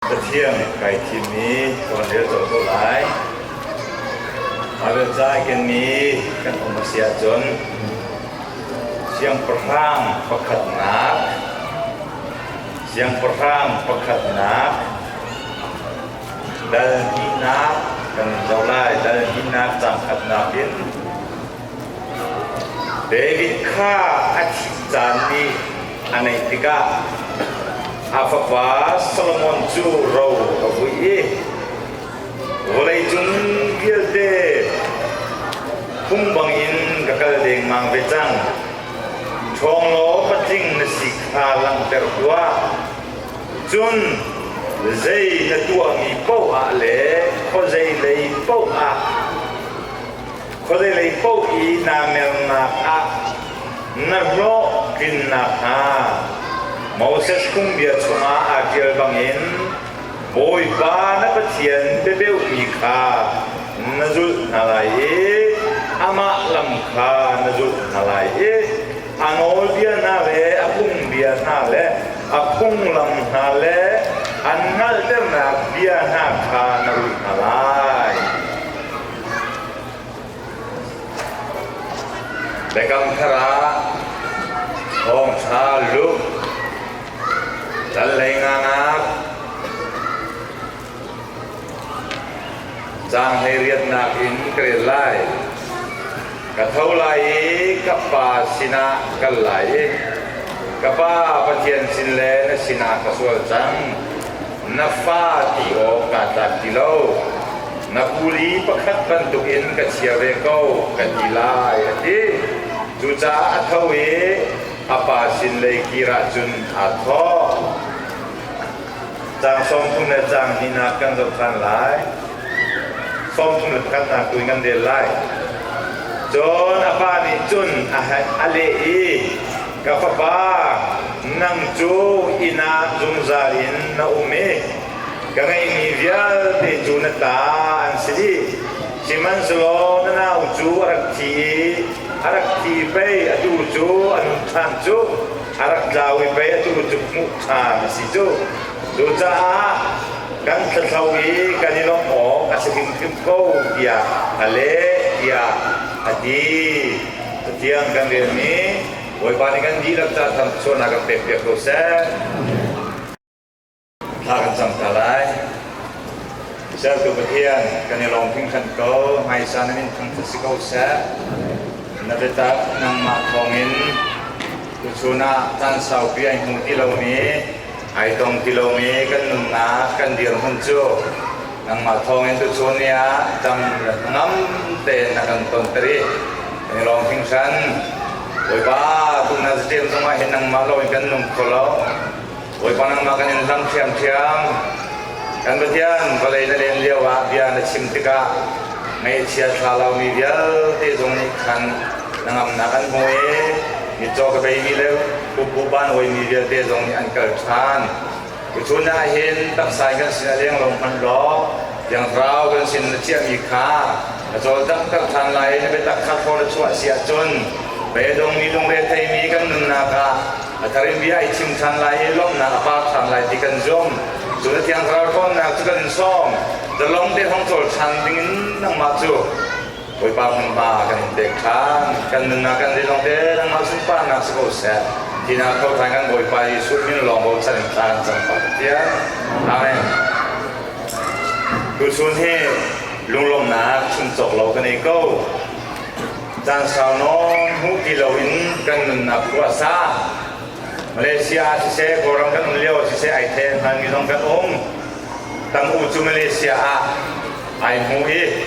Pathian kai thim i tuanrel colh ko lai. Mother Cai kenmi kan um a si ahcun siangpahrang pakhatnak siangpahrang pakhatnak dal hnihnak kan in zoh lai. Dal hnihnak cang khatnak in David kha a thih caan ni a naih tikah a fapa Solomon cu ro a vuih i vawleicung vialte phung bangin ka kal dengmang ve cang. Ṭhawnglawm patling na si kha langhter tuah. Cun zei na tuahmi paohah le khuazei lei paohah Khuazeilei paoh i naa mernak ah na hnawh tlin nakhnga Moses phungbia chungah aa ṭial bangin Bawipa na Pathian biabeuhmi kha na zulh hna lai i amah lam kha na zulh hna lai i a nawlbia hna le a phungbia hna le a phunglam hna le an hngalhternak bia hna kha na rulh hna lai. Biakam Thar ah thawngṭha lumh, tlanglei ngangak, caan hleiriatnak in ka rel lai. Ka tho lai i ka Pa sinah kal lai i ka Pa Pathian sin le na sinah ka sual cang. Na fa ti awk kaa tlak ti lo. Na kuli pakhat bantukin ka chia ve ko ka ti lai a ti. Cucaah a tho i a pa sin lei kir ahcun aa thawh. Caang sawmthum le caang hnihnak kan zoh than lai. Sawmthum le pakhatnak tu in kan rel lai. Cun a pa nih cun a leh i, Ka fapa, nang cu inn ah zungzal in na um i ka ngeihmi vialte cu na ta an si dih. Sihmanhsehlaw na nau cu a rak thi i a rak thi pei atu cu an than cu a rak tlau i pei atu cu hmuh ṭha a si cu. Cucaah kan thlathlo i kan i lawmh awk a si hrimhrim ko tiah a leh tiah a ti. Pathian kan relmi Bawipa nih kan dihlak ca sualnak kan pekpiak ko seh. Thla kan cam ta lai. Sertu Pathian kan i lawm hringhran ko. Hmaisan in thangthat si ko seh. Na biatak nangmah thawngin tuchun ah caan saupi ai hmu ti lomi ai tong ti lomi kan nunnak kan dirhmun cu nangmah thawngin tuchun ni ah tam ngam tein na kan tonter i kan i lawm hringhran Bawipa tun na zaṭem zongah hin nangmah loin kan nung kho lo Bawipa nangmah kan in hlam ṭhiamṭhiam kan Pathian vawlei na len lio ah bia na chim tikah ngaihchia thla laumi vialte zong nih khan na ngamnak an hmu i mitcaw ka bei mi le Pumpu Panwimi vialte zong nih an kal ṭhan. Tuchun ah hin taksa in kan sin a leng lo hmanh law thiangthlarau kan sin na chiahmi kha na cawl taktak ṭhan lai i na biatak kha thlaw na chuah si ahcun beidong mi lungre theimi kan nunnak ah a thar in bia i thim ṭhan lai i lawmhnak a par ṭhan lai ti kan zumh. Cu na thiangthlarau ṭhawnnak cu kan sawm. Zalong te hong cawl ṭhan dingin nangmah cu Bawipa hmunhma kan in pek kha kan nunnak kan lilawng te nangmah sunparnak si ko seh. Tinak thawhṭhan kan Bawipa Jesuh min lawng bochan in tlan cang fa Pathian. Amen. Tuchun hi lunglawmnak chuncawk lo kan ei ko. Caan sau nawn hmu ti loin kan nunnak khua sa. Malaysia ah siseh, Kawlram kan um lio siseh, ai the hmanmi zong kan um. Tam u cu Malaysia ah ai hmu i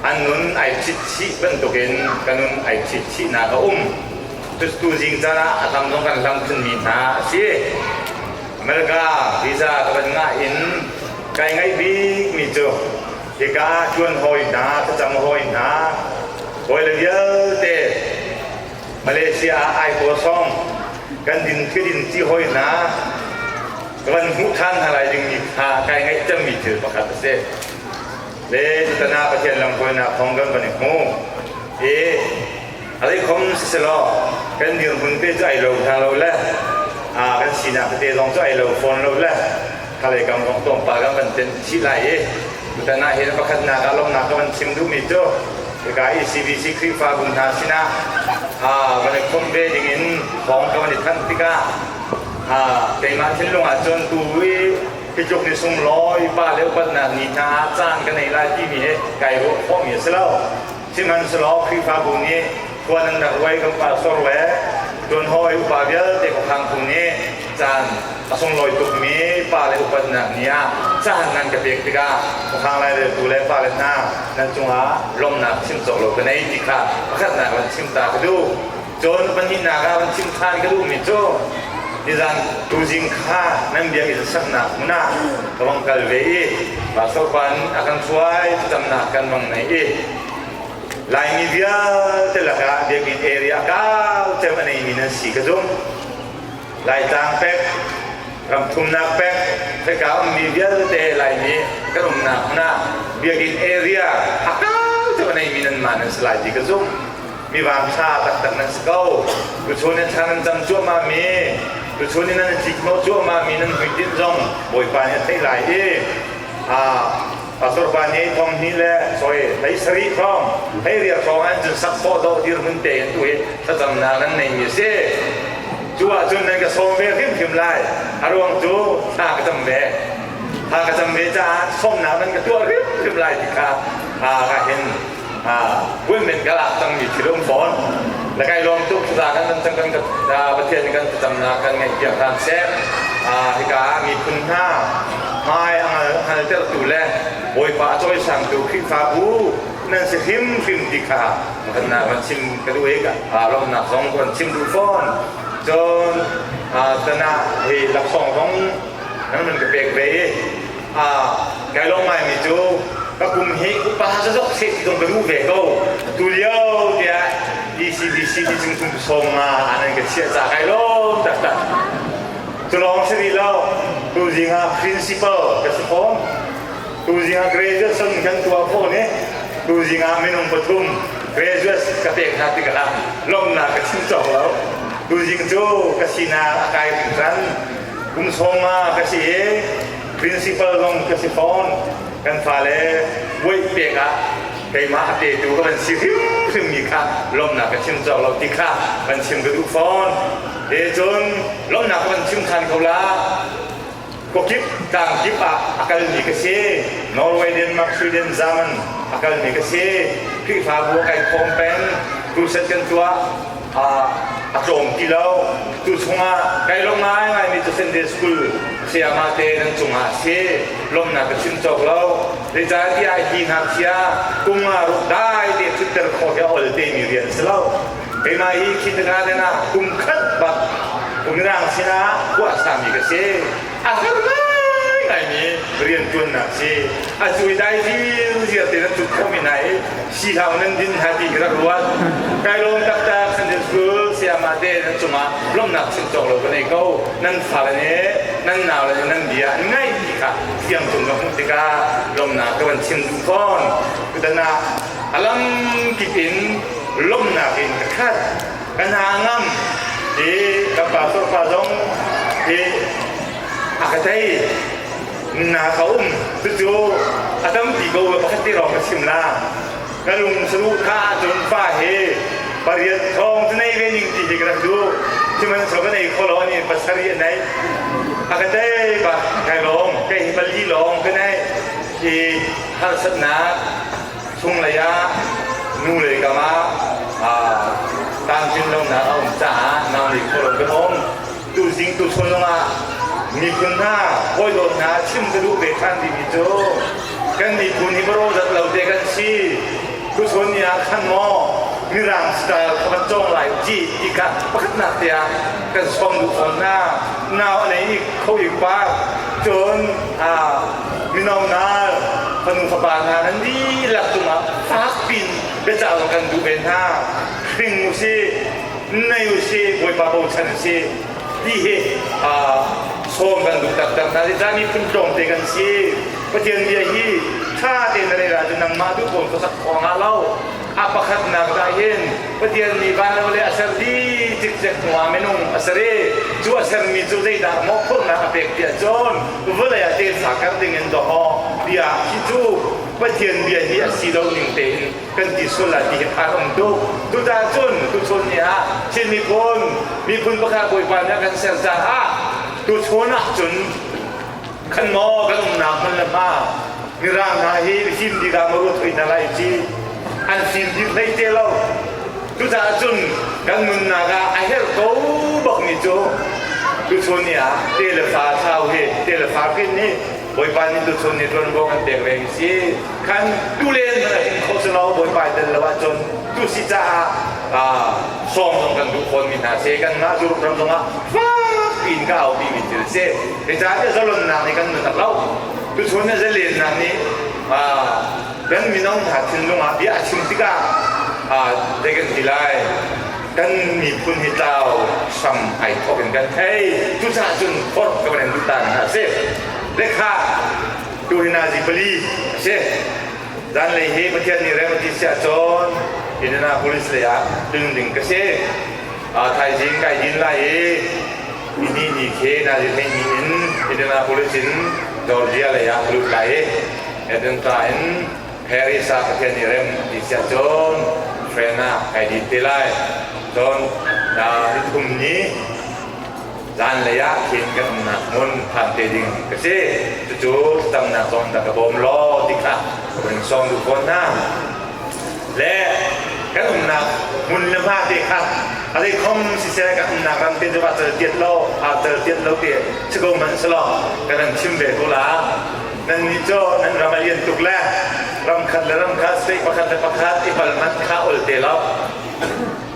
an nun ai thitthih bantukin ka nun ai thitthihnak a um. Cutu zing canah a tam zong kan hlam thunmi hna a si. America visa ka van ngah in kai ngaih bikmi cu hika ṭuan hawi hna, facang hawi hna, hawile vialte Malaysia ah ai kosong kan din thidin ti hawi hna ka van hmuh ṭhan hna lai dingmi kha kai ngaih cemmi thil pakhat a si. le tutan ah Pathian lamhruainak kong kan van i hmu i a leikhom siselaw kan dirhmun te cu ai lo hna lo le kan sinak tete zong cu ai lo fawn lo le khalei kam kong tlawmpal kan van ten chih lai i tutan ah hin pakhatnak ah lawmnak ka van chim duhmi cu hika ECBC Khrihfa bu hna sinah van i khom ve ding in thawng ka van i thanh tikah keimah thinlung ah cun tu i Kejong nih sung lawi pa le upatnak ni hna caan kan ei lai timi he kai ruah khawhmi a si lo. Sihmanhsehlaw Khrihfabu nih tuan an rak ruai kan pa sorwe tuan hawi upa vialte khukhang phu nih caan a sunglawi tukmi pa le upatnak ni ah caan nan ka pek tikah khukhang laireltu le fale hna nan cungah lawmhnak chim cawk lo ka nei ti kha pakhatnak in chim ta ka duh. Cun pahnihnak ah van chim khan ka duhmi cu nizan tuzing kha nan biakinn saknak hmun ah ka vang kal ve i pastor pa in a kan hruai thamnak kan vang nei i Laimi vialte lakah biakinn area kau cem a neimi nan si ka zumh. Laitlang pek, ramthumnak pek, thika ummi vialte Laimi kan umnak hmun ah biakinn area a kau cem a neimi nan ma nan si lai ti ka zumh. mivangsa taktak nan si ko tuchun in thlan an cam cuahmah mi tuchun in nan cik mo cuahmah mi nan hmuitinh zong bawipa nih a theih lai i pastor pa ni thong ni le soi thai sari thong thai riar thong an cun sak paw do dir mun te in tu hi thlacam na nan nei mi si cu ah cun nan ka som ve hrim hrim lai a ruang cu ta ka cham ve ta ka cham ve caah somnak nan ka tuah hrim hrim lai ti kha ka hin ha women ka lak cangmi thil um fawn na kai lawm tuk za kan nan cang kan pathian kan tacam na kan ngaihpiak hram seh hika miphun hna hmai angal angal tertu le bawipa cawi sangtu khrihfabu nan si hrim hrim ti kha kan na kan chim ka duh ka lawmnak zong kan chim duh fawn cun tana hi laksong zong nan min ka pek ve Kai lo ngaimi cu ka kum hi upa zazok se ti zong ka mu ve ko tu lio tiah ECBC ti chung chung som nga anan ka chiah ca kai lom taktak cu lawng si di lo tu zinga principal ka si fom tu zinga graduate sun kan tua ko ni tu zinga minung pathum graduates ka pek hna ti kana lomna ka chim chong lo tu zing cu ka sinak a kai ran kum sawm ah ka si i principal zong ka si fawn kan fale buaih pek ah keimah a petu ka van si hrimhrimmi kha lawmhnak ka chim cawk lo ti kha kan chim ka duh fawn e cun lawmhnak kan chim than ko la kokip tlang kip ah a kalmi ka si norway denmark sweden german a kalmi ka si khrihfabu a kai khawm pen tuset kan tuah a tlawm ti lo. Cu chungah kai lawm ngaingaimi cu Sunday School sayamate nan cungah a si. Lawmhnak ka chim cawk lo. Zeicahtiah hi ngakchia kum nga ruk dai te cutter khawh hi a ol temi rian si lo. Keimah hi kindergarten ah kum khat bak Mirang sinah puahsami ka si. a har ngaimi riantuannak si a cui dai hrim zia te na tut khomi hna i sihlau nan din hna ti ka ruat kai lawm taktak san din su sayama te nan cungah lomnak chim cawk lo ka nei ko nan fale ne nan nau le nan bia an ngai ti kha fiang tung ka hmuh tikah lomnak ka van chim duh fawn kutana alam kip in lomnak in ka khat ka hna ngam i kan pa torfa zong hi a ka thei na ka um cucu a tampi ko pakhat te lawng ka chim la ka lung saru tha ahcun fa hi pariat thawng cu nei ve ning ti hi ka rak duh sihmanhsehlaw ka nei kholo ni pasarih a nei a ka tei ba kai lawng kai hi pali lawng ka nei i harsatnak Chunglei ah nule kam ah tlamtlin lonak a um caah nau nih khualo kan um. Tuzing tuchun lungah miphun hna hawidawt hna chim ka duh ve than dimi cu kan miphun hi baro zat lo te kan si tuchun ni ah khan maw mirang style kha kan cong lai ji ti kha pakhatnak te ah kan som duh fawn hna nau a nei i kho i pa cun mino hna fanu fapa hna nan dihlak cungah fakpiin biacah zong kan duh ve hna hring u si nai u si bawipa bochan u si ti hi sawm kan duh taktak hna zeicah miphun tlawmte kan si pathian bia hi ṭha tein na rel ahcun nangmah duh ko khuasak awang ah lo a pakhatnak ah hin Pathian mi vanlo le a serti cikcek hnuah minung a seri cu a sermi cu zeidah maw khurnak a pek tiah cun vawlei ah tefa kar dingin dawhawh bia hi cu Pathian bia hi a si lo ning tein kan ti sual la ti hi phan um tuk tutan cun tuchun ni ah Chin miphun miphun pakhat Bawipa nih a kan ser caah tuchun ah cun khan maw kan umnak hmun le hma mirang hna hi him dingah ma ruat hoi na lai ci an fim dih hlei te lo cucaah cun kan nunnak ah a herh ko bak mi cu tuchun ni ah te le fa thau hi te le fa kin hi bawipa ni tuchun ni tuan bo kan pek reng si khan tu len na hin kho selo bawipa tel lo ah cun tu si caah song zong kan duh khon mi hna se kan ngah dur ram zongah fak in ka hau pi min til se Hi ca hi zalonnak nih kan nutak lo. Tuchun hi zalennak nih kan mino hna thinlung ah bia a chim tikah they kan ti lai. Kan miphun hi tlau sam ai thawk in kan thei. Cucaah cun forh ka van in tutan hna si. Lekha tu hi na zi pali a si. Zan lei hi Pathian nih remti sia cun Indianapolis lei ah building ka si. Thaizing kai din lai i Hihi ni khi Nazirhleih ni in Indianapolis in Georgia lei ah a lut lai i Edinburgh in Paris ah Pathian nih rem ti siah cun train ah kai dit te lai. Cun ni thum ni zanlei ah khin kan umnak hmun phan te ding ka si. Cucu tamnak zong dah ka bawm law ti kha ka vun sawm duh fawn hna. le kan umnak hmun le hma te kha a dei khom siseh kan umnak ram te cu ah cal tiat lo a cal tiat lo te si ko hmanh selo kan an chim ve ko la nan nih cu nan ram a lian tuk le ram khat le ram khat state pakhat le pakhat i bal hmanh kha ol te lo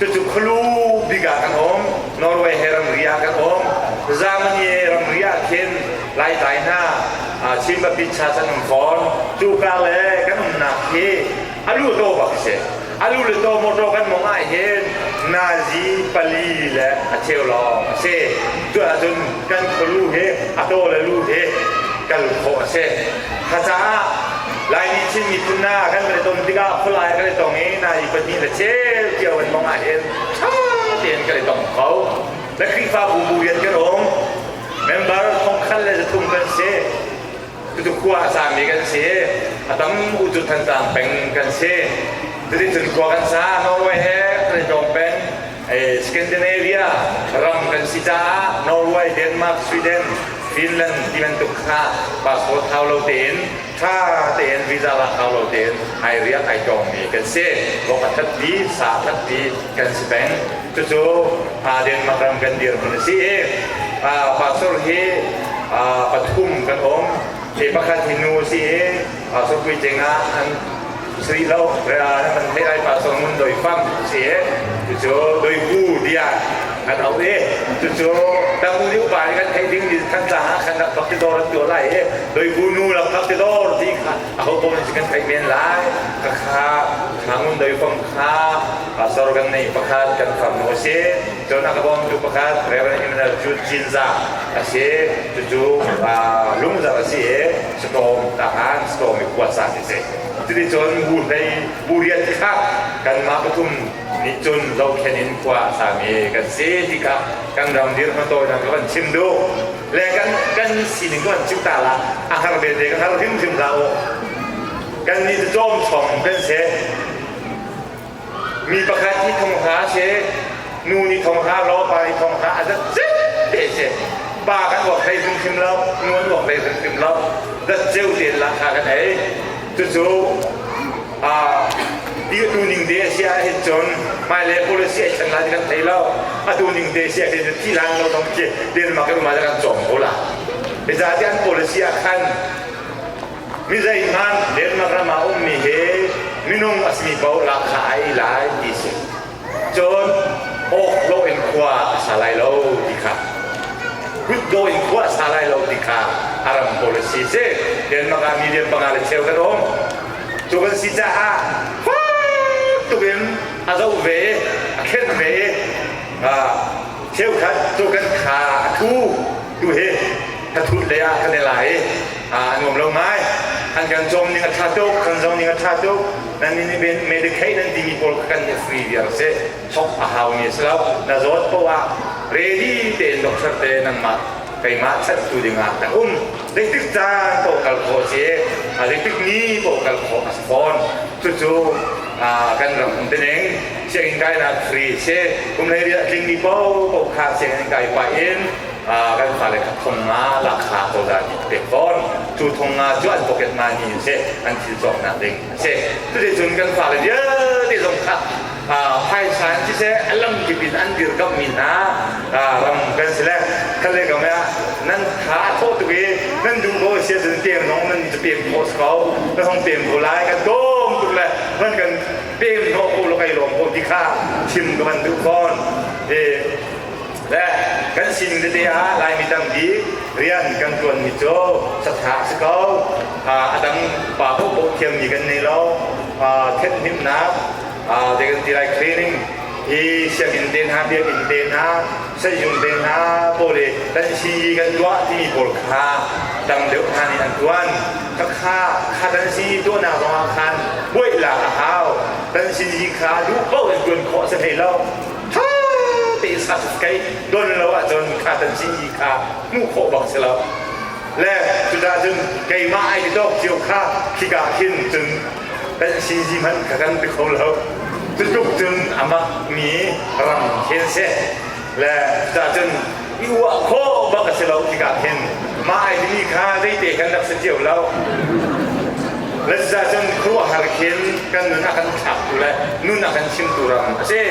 Cucu Khlu bik ah kan um, Norway he ramri ah kan um, Germany ramri ah khin Laitlai hna Chin Papitsa an um fawn. Cuka le kan umnak hi alu to bak si. Alu le to motor kan mong ai hin Nazi pali le a cheu lawng a si. Tu ahcun kan Khlu hi a to le lu hi kal khawh a si. Hacaah Lai nih Chin miphun na kan kan i tom tikah Khulai kan i tong i na i pahnih le ceu cio in mong ah hin ṭha tein kan i tong kho. Na Khrihfabu bu rian kan um. Member thongkhat le zathum kan si. Tutu khua a sangmi kan si. A tam u cu than sang peng kan si. Tutin cun khua kan sa Norway he kan i tong peng. Scandinavia ram kan si caah Norway, Denmark, Sweden, Finland ti bantuk kha passport hau lo tein ṭha tein visa lak hau lo tein ai riak ai ṭawngmi kan si. Vok a thatpi, sa a thatpi kan si peng. Cucu Denmark ram kan dirhmun a si i pastor hi pathum kan um. Hi pakhat hi nu si i pastor puitling ah an Sri lo kan thei ai pa song doi fam si e tu doi pu dia kan au e tu cu tam liu pa kan thei ding ni kan ta ha kan rak phak ti dor to lai e doi pu nu la phak ti dor ti kha a ho bon si kan thei men lai ka kha mangun doi fam kha pastor kan nei pakhat kan fam no se to na ka bom tu pakhat reverend Emmanuel Chu Chinza ase tu tu lungzar ase e storm tahan storm kuasa se Cuticun bu hlei bu rian ti kha kanmah pathum nih cun zohkhenh in khua a sami kan si ti kha kan ram dirhmun tawinak ka van chim duh le kan kan sining kan chim ta la a har belte ka har hrimhrim hlah u kan nih cu cawm chong kan si Mi pakhat nih thong hna a si, nu nih thong hna law, pa nih thong hna a zat zet te a si. Pa kan uak hlei hrimhrim lo, nu an uak hlei hrimhrim lo, zat ceu te la kha kan ei. Cucu tu ning te a si ahhin cun hmailei policy ai thleng lai kan thei lo a tu ning te si ahhin thi lan lo dong khi denmark in ma kan cawm ko la hizati an policy ah khan Mizeihmanh Denmark ram ah a ummi hi minung a simi paohlak kha a ei lai ti a si. Cun awk lawh in khua a sa lai lo ti kha hut dawh in khua a sa lai lo ti kha a ram policy si. Denmark ah million panga le cheu kan um. Cu kan si caah fak tuk in a zoh ve, a khenh ve, cheukhat cu kan kha a thu. tu hi ka thut lei ah kan i la i a nuam lo ngai an kan cawm ning a ṭha tuk kan zong ning a ṭha tuk nan nih nih medicaid an timi pawl kha kan i free viar a si thawk a haumi a si lo na zawt poh ah ready tein doctor te nangmah keimah chanhtu dingah kan um zeitik caan poh kal khawh si a zeitik ni poh kal khawh a si fawn cucu kan ram um te ning sianginn kainak free si kumhlei ri a tling mi popo kha sianginn kai pa in kan fale kha thong nga la kha ko da ni pek fawn cu thong nga cu an pocket ma ni si an thil cawk nak ding si tuti cun kan fale vialte zong kha phaisa an si se a lam kip in an dir kam mi hna ram kan si le kan le kam ah nan tha thawh tuk i nan duh ko si cun te zong nan cu pem ko ko na hong pem ko lai kan dom tuk le nan kan pem ko ko lo kai lom ko ti kha chim ka van duh kon e le kan sining tete ah laimi tampi rian kan tuan mi cu satha si ko a dang pa po po thiam mi kan nei lo thethnemnak they can be like training i sianginn te hna biakinn te hna sehzung te hna pawle kan si kan tuah timi pawl kha dang deuh hna nih an tuan khakha kha kan si tuahnak ruangah khan buailak a hau kan sin hi kha duh paoh in tuan khawh si hlei lo tha te sak kai don lo ahcun kha kan sin hi kha hmuh khawh bang si lo le cucahcun keimah ai ti tuk cio kha khika khin cun kan si si hmanh ka kan ti kho lo. Cutluk cun amah mi ramkhel si le cahcun i uah khawh bak a si lo tikah khin mah ai timi kha zeite kan rak si cio lo. Lezza cun khuahar khin kan nun a kan thlaktu le nun a kan chimtu ram a si.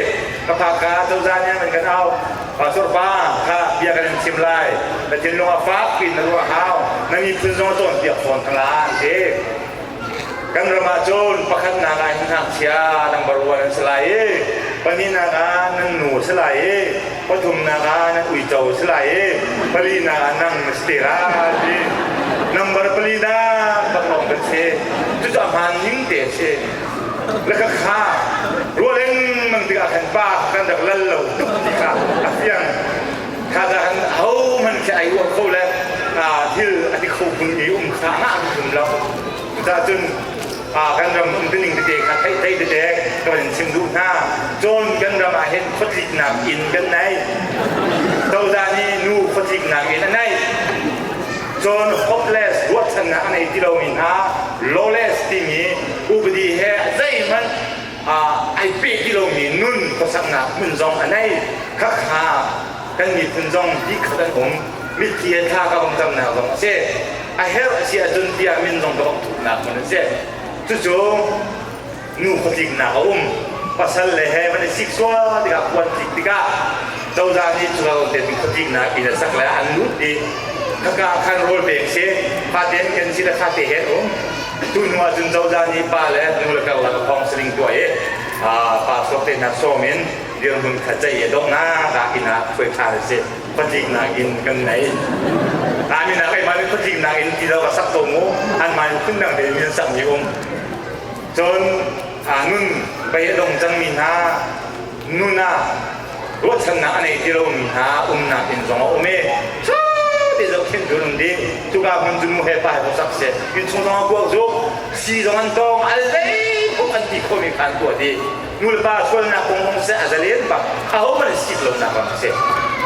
Ka pa ka cozah nih an kan au. Pastor pa kha bia kan in chim lai. Na thinlung a fak piin na ruah hau. Na miphun zong cawnpiak fawn ka la an ti. Kan ram ah cun pakhatnak ah hin ngakchia nan baruah nan si lai i pahnihnak ah nan nu si lai i pathumnak ah nan uico si lai i palinak ah nang na si te lai number pali dah pakpang kan si cucu a hmaan ning te a si le ka kha rual in mang tikah kan pa kan rak lal lo tuk tikah a fiang kha han hohmanh khi ai uah kho le thil ani kho kun i um kha ngah an tum lo cucaah cun kan ram umtuning tete kha theih theih tete kan in chim duh hna cun kan ram ah hin khuatliknak in kan nei cozah nih nu khuatliknak in a nei cun hopeless ruahchannak a nei ti lomi hna lawless timi upadi he zeihmanh ai peh ti lomi nun khuasaknak hmun zong a nei khakha kan miphun zong dikkhat an um mitthli he tha ka vong tamnak zong a si a herh a si ahcun bia min zong ka vong thuknak hmun a si cucu nu khuatliknak a um pasal le he man i sik sual tikah puan tlik tikah cozah nih cuka te khuatliknak in a sak le an lut i khaka khan rawl pek si faten kan si le fate hen um Atu hnu ahcun cozah nih pa le nu le karlak thong saling tuah i pa sok te hna sawm in dirhmun kha ceih i donghnak ah inn ah khuaikha si phatliknak in kan nei. An inn ah keimah nih phatliknak in ti lo ka sak ko mu anmah nih phundang tein min sakmi um. Cun nun bei a dong cangmi hna nunah ruahchannak a nei ti lomi hna umnak inn zong a um i te zohkhenh cu um ding cuka hmun cu mu he pa he bosak si inn chung zong a kuak zu si zong an tawng al vei tuk an ti khomi khan tuah di nulepa sualnak kong hong se a zalen pak a ho man sip lonak ram si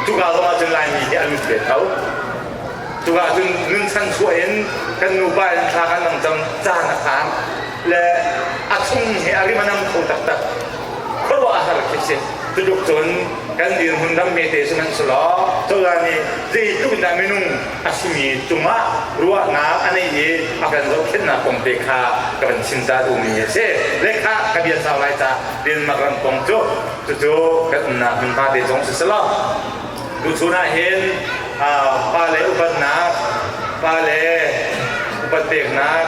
cuka zong ah cun laimi hi a lut ve tho cuka cun nun chan chuah in kan nupa in thla kan nang cang caan a khaan le a chung he a rim a nam kho taktak ruahhar khi si cutluk cun kan dirhmun ram mete cu nan si law cozah nih zeitluk in dah minung a simi cungah ruahnak a neih i a kan zohkhenhnak kong te kha ka van chimta duhmi a si lekha ka bia sau lai ta Denmark ram kong cu cucu kan umnak hmunhma te zong si si lo tuchun ah hin pale upatnak pale upat peknak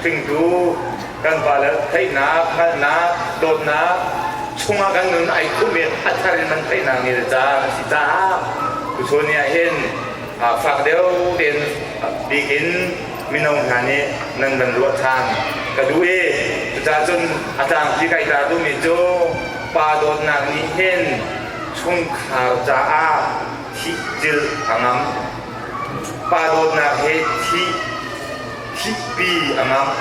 hringtu kan vale theihnak hngalhnak dawtnak chungah kan nun ai khumh i a thar in man theihnak ni le caan a si caah tuchun ni ahhin fak deuh tein bikin mino hna nih nan van ruah than ka duh i cucahcun a tlangpi kai ta duhmi cu pa dawtnak nih hin chungkhar caah thih cilh a ngam pa dawtnak hi thih thihpi a ngamh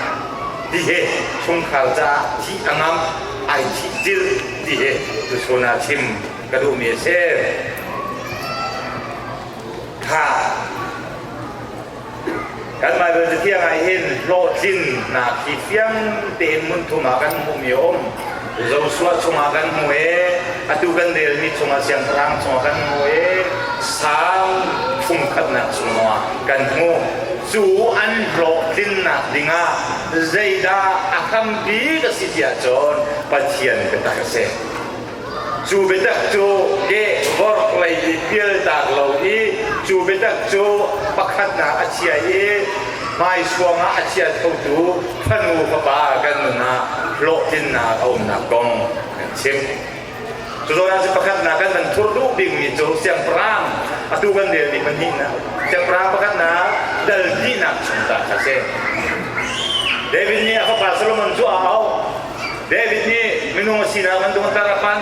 ti hi chungkhar caah thih a ngamh ai thih zil ti hi tuchun ah chim ka duhmi a si ha kan Bible cathiang ah hin hlawhtlinnak hi fiang tein ngun thum ah kan hmuhmi a um Joshua chungah kan hmu i atu kan relmi chungah siangpahrang chungah kan hmu i sang fungkhatnak chungah kan hmu. Cu an hlawhtlinnak dingah zeidah a hrampi ka si ti ahcun Pathian biatak a si. Cu biatak cu ke vorh lei i pialtak lo i cu biatak cu pakhatnak a chia i hmaisuang ah a chia khotu fanu fapa kan nun ah hlawhtlinnak a umnak kong kan chim. Cucaah si pakhatnak kan kan thur duh bikmi cu siangpahrang atu kan relmi pahnihnak siangpahrang pakhatnak dal dihnak chung ta kha si. David nih a fapa Solomon cu a auh. David nih minung a sinak an tung tar a phan.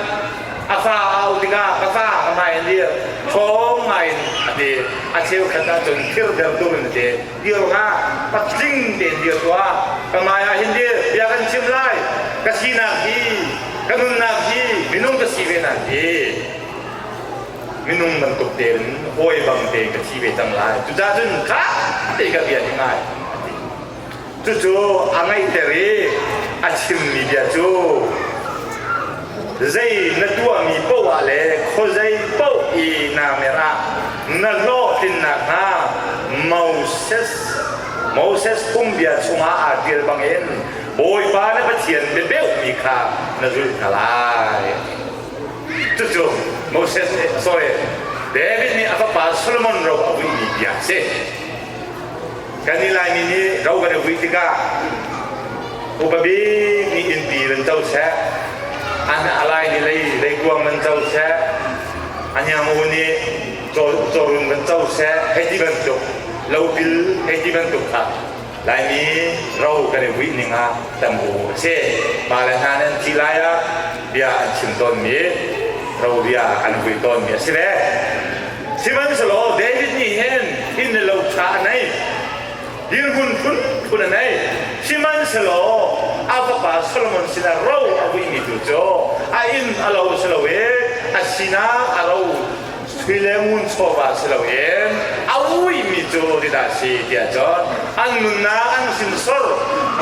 A fa a auh tikah ka fa ka hmai in dir, ṭhawng ngaiin a ti. A cheukhat ahcun thirter turin a ti. dir hlah patling tein dir tuah ka mai ah hin dir bia kan chim lai ka sinak hi ka nunnak hi minung ka si ve nan hi minung bantuk tein hawi bang tein ka thi ve cang lai cucah cun kha te ka bia ding ngai cucu a ngaihter i a chimmi bia cu zei na tuahmi paoh ah le khuazei paoh i na mer ah na hlawhtlin nakhnga Moses Moses kum bia chungah aa ṭial bangin Bawipa na Pathian biabeuhmi kha na zulh hna lai. Cucu Moses nih a sawi. David nih a fapa Solomon ro a uihmi bia a si. kan i laimi nih ro kan i hui tikah upa bik nih innpi van co seh an alai nih lei lei kuang van co seh anyamu nih cawrum van co seh hei ti bantuk lopil hei ti bantuk kha laimi ro kan i hui ning ah tam u a si ma le hna nan thi lai ah bia an chim tawnmi ro bia an hui tawnmi a si ve Sihmanhsehlaw David nih hin inn le lo ṭha a nei, dirhmun phunphun a nei, sihmanhsehlaw a fapa Solomon sinah ro a vuihmi tu cu a inn a lo a si lo i a sinah a ro sui le ngun chawva a si lo i a uihmi cu tidah a si tiah cun an nunnak an sinsor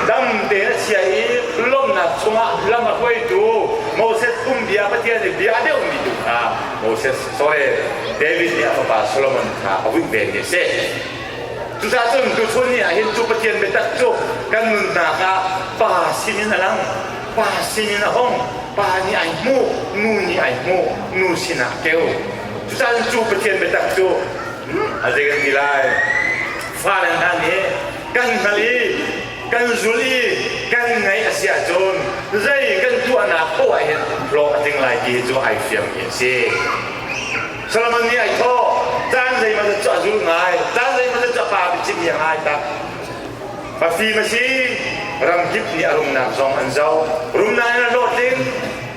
dam tein a chia i lawmhnak chungah lam a hruaitu Moses phungbia Pathian i bia a deuhmi tu kha Moses Saul David nih a fapa Solomon kha a hunh vemi a si. Cucaah cun tuchun ni ah hin cu Pathian biatak cu kan nunnak ah pa sinin a lang, pa sinin a hong, pa nih ai hmu, nu nih ai hmu, nu sinah keu. Cucaah cun cu Pathian biatak cu a zei kan ti lai? Fale hna nih kan hngalh i kan zul i kan ngaih a si ahcun zei kan tuahnak poah hin hlawh a tling lai ti cu ai fiangmi a si. Solomon nih ai thawh caan zeimah zat cu a zul ngai caan zeimah zat cu a pa biachimmi a ngai tak a fim a si ramkip nih a rumnak zong an zoh rumnak in a hlawt ding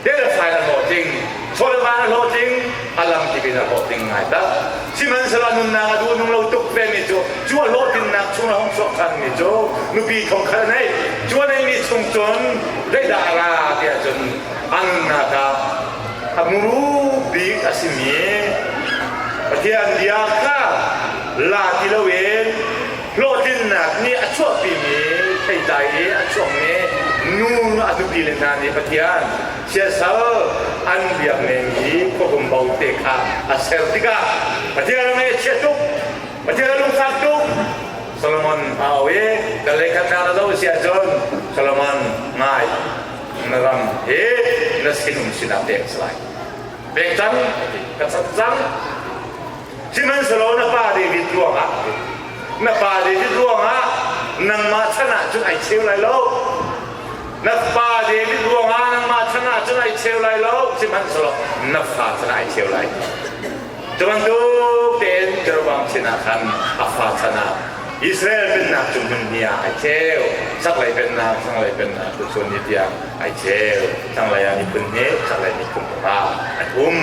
Delfai a hlaw tling, Folvan a hlaw tling, a lam dik in a hlaw tling ngai ta. Sihmanhsehlaw nunnak a duh nung lo tuk vemi cu cu a hlawhtlinnak chung a hung chuahkhanmi cu nupi thongkhat a nei. Cu a neihmi chung cun zeidahra tiah cun annak ah a muru bik a simi Pathian bia kha la ti loin hlawhtlinnak nih a chuahpimi theitlai i a chuakmi nu a nupi le hna nih Pathian siasal an biak nengmi khuahumbo te kha a ser tikah Pathian ngaihchia tuk Pathian lungfak tuk Solomon a au i kan leikhatnak na zoh si ahcun Solomon ngai na ram hi na sinum sinah pek a si lai pek cang ka cat cang Sihmanhsehlaw na pa David ruangah na pa David ruangah nangmah chan ah cun ai cheu lai lo na pa David ruangah nangmah chan ah cun ai cheu lai lo sihmanhsehlaw na fa chan ah ai cheu lai cu bantuk tein Jeroboam sinah khan a fa chan ah Israel pennak cu hmun hnih ah ai cheu chaklei pennak thlanglei pennak cu chun ni tiang ai cheu thlanglei ah miphun hnih chaklei miphun panga an um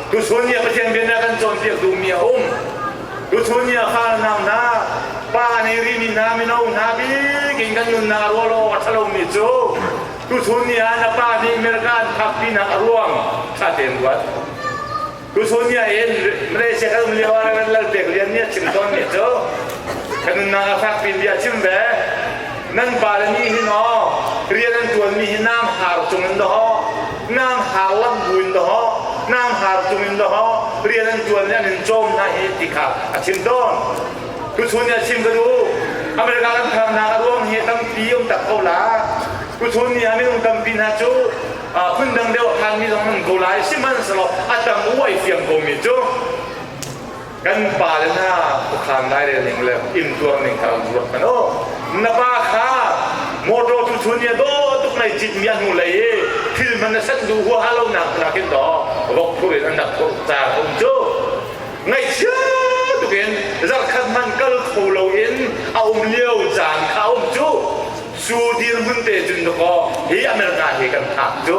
Tuchun nih Pathian biaknak kan cawnpiak duhmi a um. Tuchun nih a harnak hna, pa nei rimi hna, mino hna bik in kan nunnak a ruah law a ṭhalomi cu tuchun nih ah na pa nih America an phak pinah a ruang ṭha tein ruat. Tuchun nih ah in Malaysia kal lio ah ran lal pek rian nih a chim tawnmi cu kan nunnak a fak pin bia chim ve. Nan pa le nih hin aw rian an ṭuanmi hi nam har cung in daw nang har lam buin daw nang har cungin daw rian an tuan le an in cawm hna hi ti kha a chim tawn tuchun ni a chim ka du America kan khang hna ka ruang hi tampi um tak ko la tuchun ni a minung tampi hna cu phun dang deuh than mi zong an ko lai sihmanhselaw a tam uai fiang ko mi cu kan pale hna khuakhan lairel ning le intuar ning kha ruat kan o na pa kha motor tu chun ya do tuk nei cit mi hnu lei i thil man na san du hua ha lo nak na kin do vok thur in an nak thur cha kum chu ngai chia tukin zarkhat man kal kho lo in a um lio caan kha um chu su dir mun te jun to ko hi america hi kan thak chu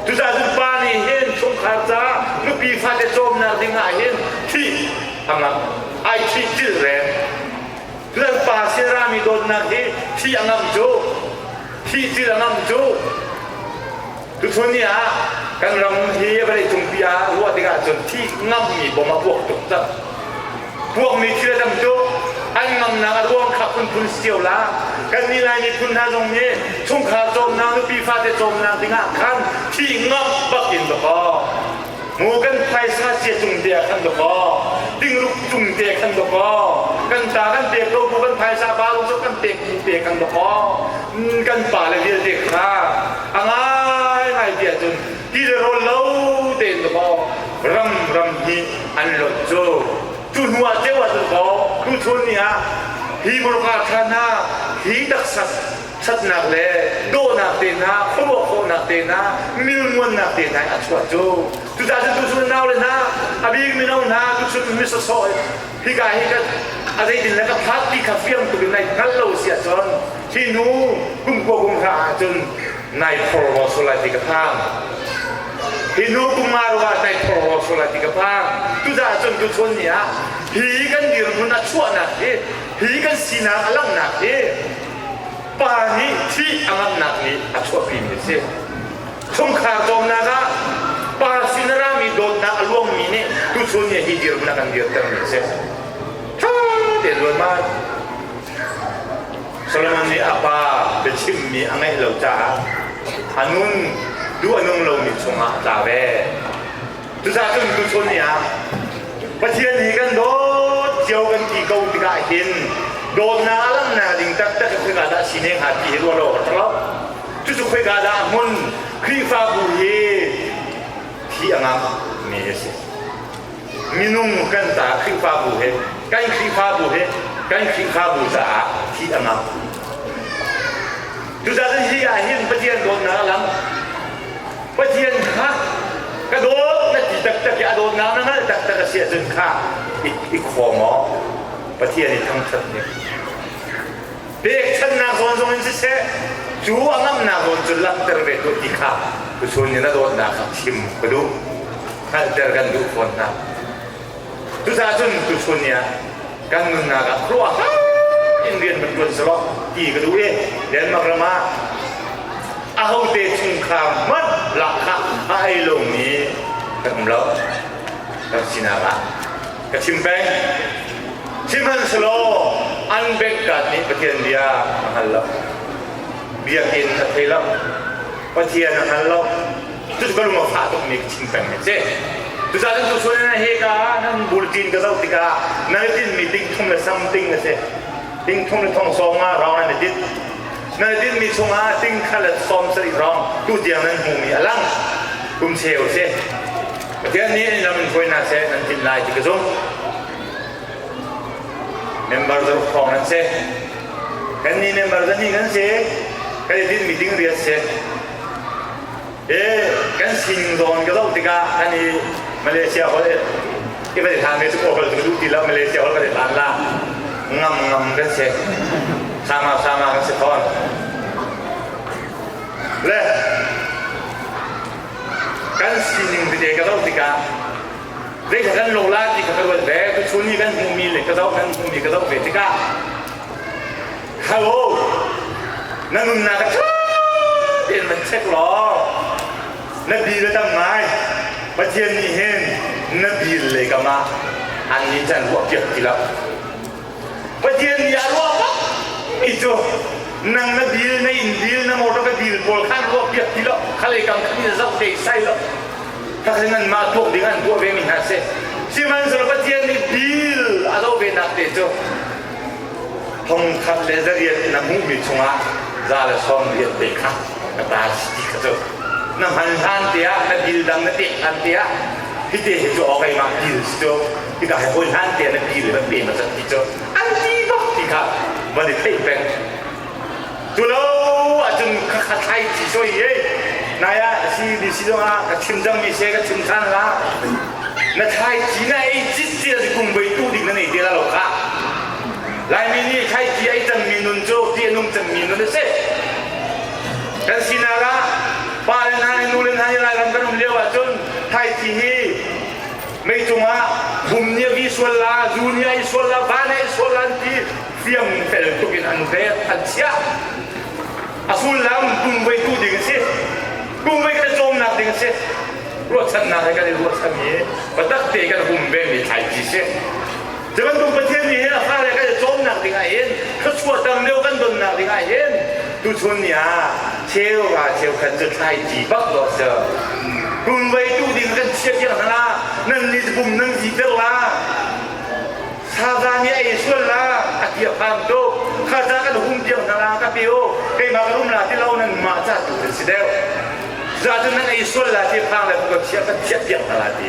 Cucaah pa nih hin chungkhar ca nupi fate cawmnak ding ah hin thih a ngam ai thih cilh reng Cucaah pa sin rami dawtnak hi thih a ngam cu thih cilh a ngam cu tuchun ni ah kan ram hi vawleicung pi ah ruah tik ahcun thih ngammi bom a puak tuk cang Ruakmi thil a tam tuk. An ngamnak a ruang kha phunphun sio la. Kannih Lai miphun hna zong nih chungkhar cawmnak, nupi fate cawmnak dingah khan thi ngamh bak in ka kaw. Mu kan phaisa sia cung te ah khan ka kaw. Tingruk cung te khan ka kaw. Kan ta kan pek ko bu kan phaisa ba lung sok kan pek te kan ka kaw. Kan pa le vialte kha a ngai ngai ti ahcun ti le rawl lo tein ka bao ram ram hi an lot cu cu hnu ah ceu ah cun bao tu chun ni ah hi muruka khan ha hi taksak thatnak le dawhnak te hna khuaruah khawhnak te hna milmuannak te hna a chuah cu tuta cu tu chun nau le hna a bik mino hna tu chun mi sosoi hi ka hi ka a zeitin le ka phat ti kha fiang tukin nai hngal lo sia cun hi nu kum kua kum hra ah cun nai phor ho su lai ti ka phang hi nu kum ma ruangah nai phor ho su lai ti ka phang tu da cun tu chun ni ah hi kan dirhmun a chuahnak hi hi kan sinak a langhnak hi pa nih thih a ngamnak nih a chuahpimi a si chungkhar cawmnak ah pa sin a rami dawtnak a luangmi nih tu chun ni hi dirhmun a kan dirtermi a si ṭha te zual man Solomon nih a pa biachimmi a ngaih lo caah a nun duh a nung lomi chungah a tla ve. Cucaahcun tuchun ni ah Pathian hi kan dawt cio kan ti ko tikah hin dawtnak a langhnak ding taktak in khoika dah si ne hnga ti hi ruah lo ka ṭang lo. Cucu khoika dah hmun Khrihfabu hi thi a ngam mi a si. minung kan caah Khrihfabu hi kan Khrihfabu hi kan Khrihfabu caah thi a ngam. Tuchan hi ah hin Pathian dawtnak a lang. Pathian kha ka dawt na ti taktak i a dawtnak na ngalh taktak a si ahcun kha i, i khaw maw Pathian i thangṭhat ne. pekchanhnak zawn zong in siseh cu a ngamhnak zawn cu langhter ve tuah ti kha tuchun in a dawtnak kha chim ka duh hngalhter kan duh fawn hna cucaahcun tuchun ni ah kan nunnak ah ruahhar in rian van ṭuan selaw ti ka duh i Denmark ram ah ahote chungkhar hmanh lahkhah a ei lomi kan um lo kan sinak ah ka chim peng. Sihmanhselaw an benghkat nih Pathian bia a hngal lo. Biakinn a thei lo. Pathian a hngal lo. Cucu ka lung a fah tukmi ka chim peng hi a si. Cucaah nan tusualnak he ka nan bultin ka zoh tikah nan i tinhmi ting thum le something a si. Ting thum le thong sawm nga rong nan i tinh. Nan i tinhmi chungah ting khat le sawm sarih rong tu tiang nan hmumi a lang. Kum cheu a si. Pathian nih an ram hruai hna seh nan tin lai ti ka zumh. Member zaruk hrawng nan si. Kan nih member zani kan si. Kan i tinh meeting riat si. E, kan sining zawn ka zoh tikah kan i Malaysia holh i kan i than ve tuk awkal tu duh ti lo Malaysia holh kan i than la ngam ngam kan si sama sama kan si fawn le kan sining vive ka zoh tikah zeikha kan lola ti kha ka ruat ve tuchun i kan hmuhmi le ka zoh kan hmuhmi ka zoh ve tikah hello na nunnak ka ṭha tein van check law na bil a tam ngai pathian nih hin na bil le kamah annih can ruah piak ti lo Pathian bia ruah bak i cu nang na bil na in bil na motor ka bil pawl khan ruak piak ti lo khalei kam khan na zoh te sai lo ka khan nan mah tuak ding an tuah ve mi hna se sihmanhsehlaw Pathian nih bil a lo ve nak te cu thongkhat le zariat na hmuh mi chungah za le sawm rian te kha ka tar ti ka cu na hman hlan te ah na bil dang na pek hlan te ah hite hi cu okai ma bil si cu Hika hi hawi hlan te na pi le nan pe ma san ti cu an si bak ti kha van i theih peng cu lo ahcun ka kha thlai ti so hi naya si bi si zongah ka chim dang mi se ka chim than la na thlai ti na ei chit sia si kum boi tu ding na nei te la lo ka laimi nih thlai ti ei cang mi nun cu ti nung cang mi nun si kan sinak ah pa le nai nu le nai lairam kan um lio ahcun thlai ti hi mei cungah vum nih a vi sual la zu nih a i sual la va nih a i sual la an ti hriam fel tuk in an ret an chiah a sullam pumveitu ding a si pumvei thlacamnak ding a si ruahchannak he kan i ruahchan i biatak te kan hum ve mi thlai ti si Cu bantuk Pathian nih hin a fale kan i cawmnak dingah hin thluachuah tam deuh kan donnak dingah hin tuchun ni ah cheuka cheukhat cu thlaici bak dawh si kun vei tu ding kan chia piak hna la nan nih bum nan ziter la saza nih a ei sual la a tia phang to kha ca kan hum piak hna la ka peo keimah ka rum la ti lo nan mah ca tu kan si deuh za cu nan ei sual la ti phang le kan chia kan chia piak hna la ti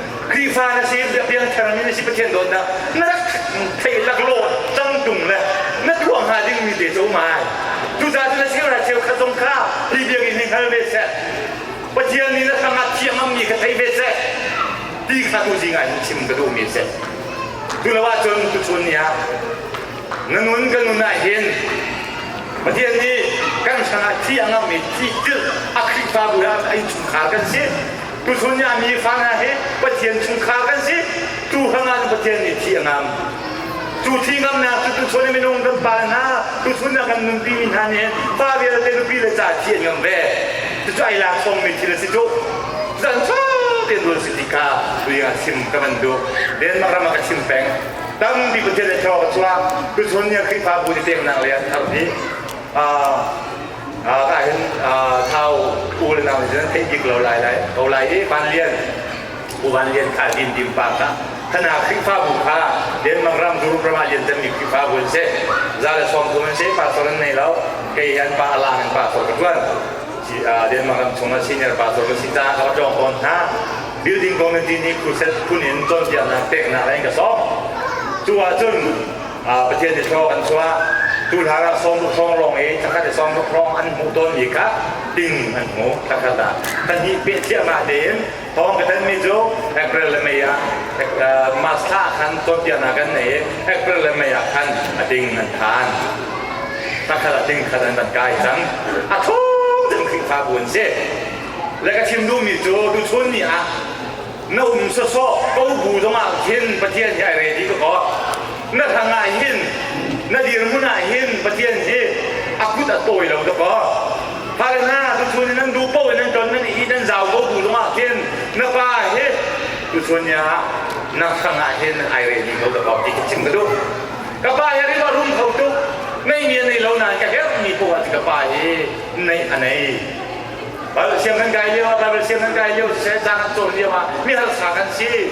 Khrihfa na si Biakhiang Thlarau mi na si Pathian dawtnak na rak theih laklawt ṭangṭung le na tuah hnga dingmi te cu um ai cucaah cun na cheuhra cheu khat zong kha hi biakinn hi hngal ve seh Pathian nih na tangah thiam ammi kha thei ve seh ti kha tu zi ngai chim ka duhmi seh tu lo ahcun tuchun ni ah na nun kan nun ah hin Pathian nih kan hrangah thi a ngammi thi tilh a Khrihfabu ah a innchungkhar kan si Tuchun ah mi fa hna hi Pathian chungkhar kan si. Tu hrangah Pathian nih thi a ngam. Cu thi ngamnak cu tuchun ah minung kan pa hna, tuchun ah kan nunpi mi hna nih pa vialte nupi le ca thi a ngam ve. Cucu ai lak sawmmi thil a si cu. Zan sau tein rul si tika tui ah sim ka van duh. Denmark ram ah ka chim peng. Tampi Pathian le thawng a chuak. Tuchun ni Khrihfabu ni peknak le an thar ni. Ah, ah hin thau u le nang hin theih dik lo lai lai ko lai i van lian u van lian kha din dim pa ka khana khrihfa bu kha denmark ram durum ram ah lian temi khrihfa bu an si za le sawm kum an si pastor an nei lo kei an pa alang in pastor ka tuan denmark ram chung a senior pastor ka si caah ka va ṭawng tawn hna building community nih phuset phun in cawnpiaknak peknak in ka sawm cu ahcun Pathian nih thlawh kan chuah tuhlar ah sawmruk hrawng lawng i thakhat i sawmruk hrawng an hmuh tawnmi kha ting an hmu thakhat ah pahnih peh thiahmah tein thawng ka thanmi cu April le May ah March thla ah khan cawnpiaknak kan nei i April le May ah khan a ting an phan thakhat a ting khat an van kai cang a thum cun Khrihfabu an si le ka chim duhmi cu tuchun ni ah na um sasawh ko bu zongah khin Pathian hi ai re ti ka ko na thang ah hin na dirhmun ah hin Pathian hi a kut a tawi lo ta ko har na tu chun nan du po nan ton nan i nan zau ko bu zongah khin na pa hi tu chun ya na thang ah hin ai re ti ko ta ko ti ka chim ka du ka pa hi ri ka rum kho tu nei nge nei lo na ka her mi po ka pa hi nei anei Siang kan kai lio, siang kan kai lio, sisai sang kan cawn lio ah mi har sang kan si.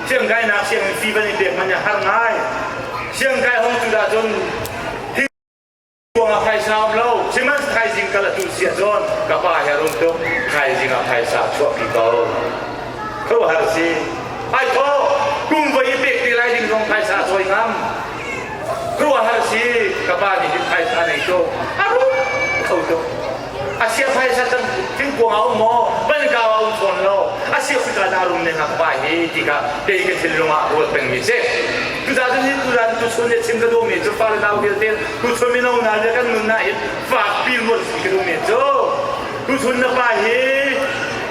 Siang kainak siang in fi van i pek man har ngai. Siang kai hong tu dah cun hi kuang a khai sa lo, siman khai jing kala tu sia cun ka pa he rum tuk khai jing a khai sa chuak pi ko. Kau har si. Ai tho kum vai pek te lai ding zong khai sa soi ngam. Kau har si ka pa nih hin khai sa nei to. Aru kau to. Asia phaisa kan thingkuang a um maw? Banka a um fawn lo. Asia Africa dah rum ne nak vai hi ti ka kei ke thil lungah ruat peng mi si. Tu da tu ni tu dan tu chun le chim ka do me chu pa le dau hial te tu chun mi no na le kan nun na hi fak pil mol si ka do me chu. Tu chun na pa hi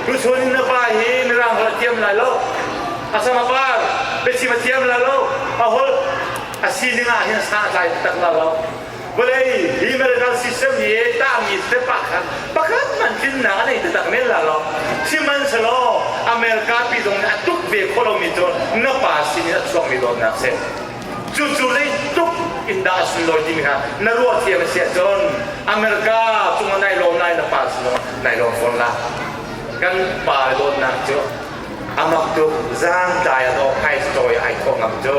tu chun na pa hi ni rang ra tiam lai lo. Asama par pechima tiam la lo. A hol asininga hin sa tlai tak la lo. vawlei liberal system hi tahmi tepa khan pakhat man tlinnak a nei taktak men la lo sihmanhselaw america pi zong nih a tuk ve khawh lomi cu na pa sin in a chuakmi dawtnak si cucu zei tuk in dah a sunlawi timi kha na ruah thiam a si ahcun america cungah nai lo nai na pa sinah nai lo fawn la kan pa dawtnak cu amak tu zangtlai a dawh hai story ai thawh ngam cu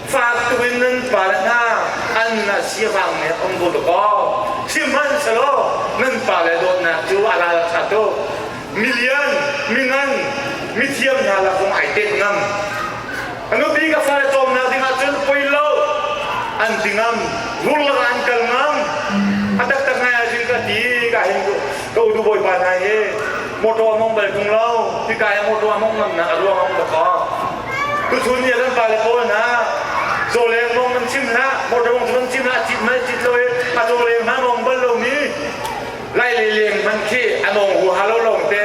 Faktuk in nan pal hna an na siavang ne om bu lakaw sihmanhselaw nan pale dawtnak cu a ral ṭha tuk milian mingan mithiam hna la kong ai tek ngam nupi ka fale cawmnak ding ahcun poi lo an tingam vurlak an kal ngam a taktak ngai ahcun ka ti ka hin ka udu bawipa hna hi motor among bal tung lo tika motor among ngam na a ruang among lakaw Tuchun nih nan pale pawl hna zawleng mong nan cim hlah, motor mong nan cim hlah, cit mai cit lo i a zawleng hmangong bal lomi lai le leng man khi an ong hu ha lo longte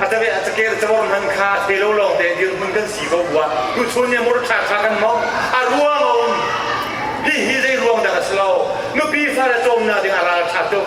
atabe atakir chawr man kha te lo longte dirhmun kan si ko bua tuchun nih motor tha kha kan mong a ruang a um hi hi zei ruang dah a si lo nupi fa le cawmnak ding a ral tha tuk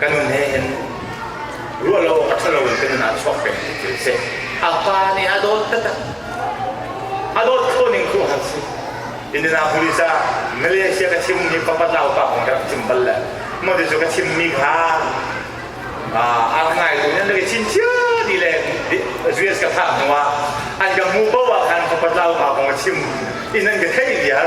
kan nih hin ruah lo a ṭha loin kan nun ah chuak peng ti a si. A pa nih a dawt taktak. A dawt kho ning tu han si. Indianapolis ah Malaysia ka chim mi papat lau pa kong ka rak chim bal le mo ti cu ka chim mi kha ar ngai tu nan ke chin cia ni le US ka thah hnu ah an ka mu bo ah khan papat lau pa kong ka chim i nan ka thei liar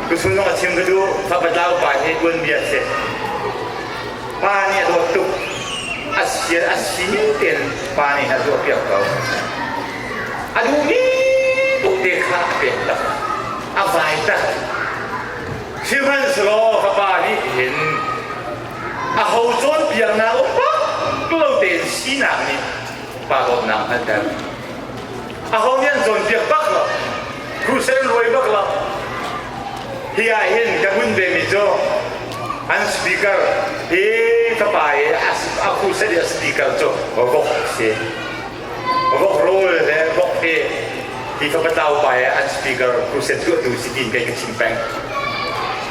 Miphun zong a chim ka duh, fa pata upa hi tuanbia a si. Pa nih a dawt tuk, a si a si tein pa nih a tuahpiak ko. A duhmi ute kha a pek tak, a vai tak. Sihmanhsehlaw ka pa nih hin a ho cawnpiaknak um pak lo tein sinak nih kahdohnak hngalhter. Aho nih an cawnpiak bak lo. Crusade an ruai bak lo. Hi ah hin ka hun ve mi cu an speaker hi ka pa i a crusade i a speaker cu vok si. Vok rul le vok hi hi ka patau pa e an speaker process tuahtu si tiin kai ka chim peng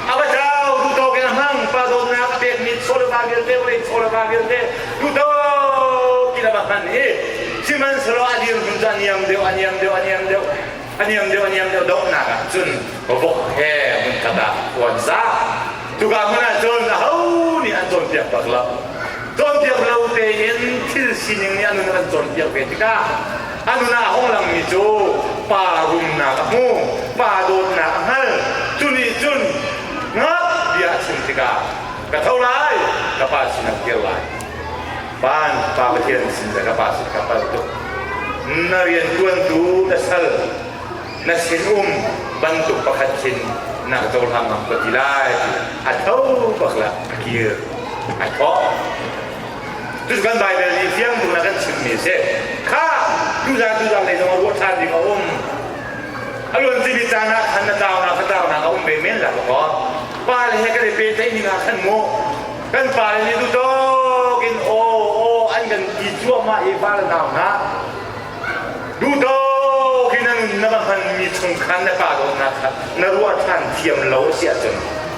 abatau tu to ke hang pa do na pek mi sola ba bil te le sola ba bil te tu to ki la ba kan hi siman selo adir hun za niam deu aniam deu aniam deu aniam deu aniam deu do na ka chun bobok he mun kata wan sa tu ga mana chon na ho ni an chon piak pak la chon piak lo te in thil sining ni anu an chon piak ve tika a nuna a hung langmi cu pa rumnak a hmu pa dawtnak a hngal cu nih cun ngap bia a chim tikah ka tho lai ka pa sin a kir lai van pa pathian sin ka pa sin ka pal tuk na riantuantu na sal na sinum bantuk pakhat khin na cohlang ngam ko ti lai a tho bak lah a kir a thawh kan Baibal nih fiang bung a kan chimhmi a si kha tuzan tuzan lei zong a ruah ṭhan ding a um a luan timi caan ah khan na tau na ka tau na a um ve men la ka pa le he kan i pehtlaih ning ah khan mu kan pa le nih duhdawk in o o an kan ti cuahmah i pa le nau hna duhdawk in an na va hmanmi chung khan na pa dawtnak kha na ruah ṭhan thiam lo a si ahcun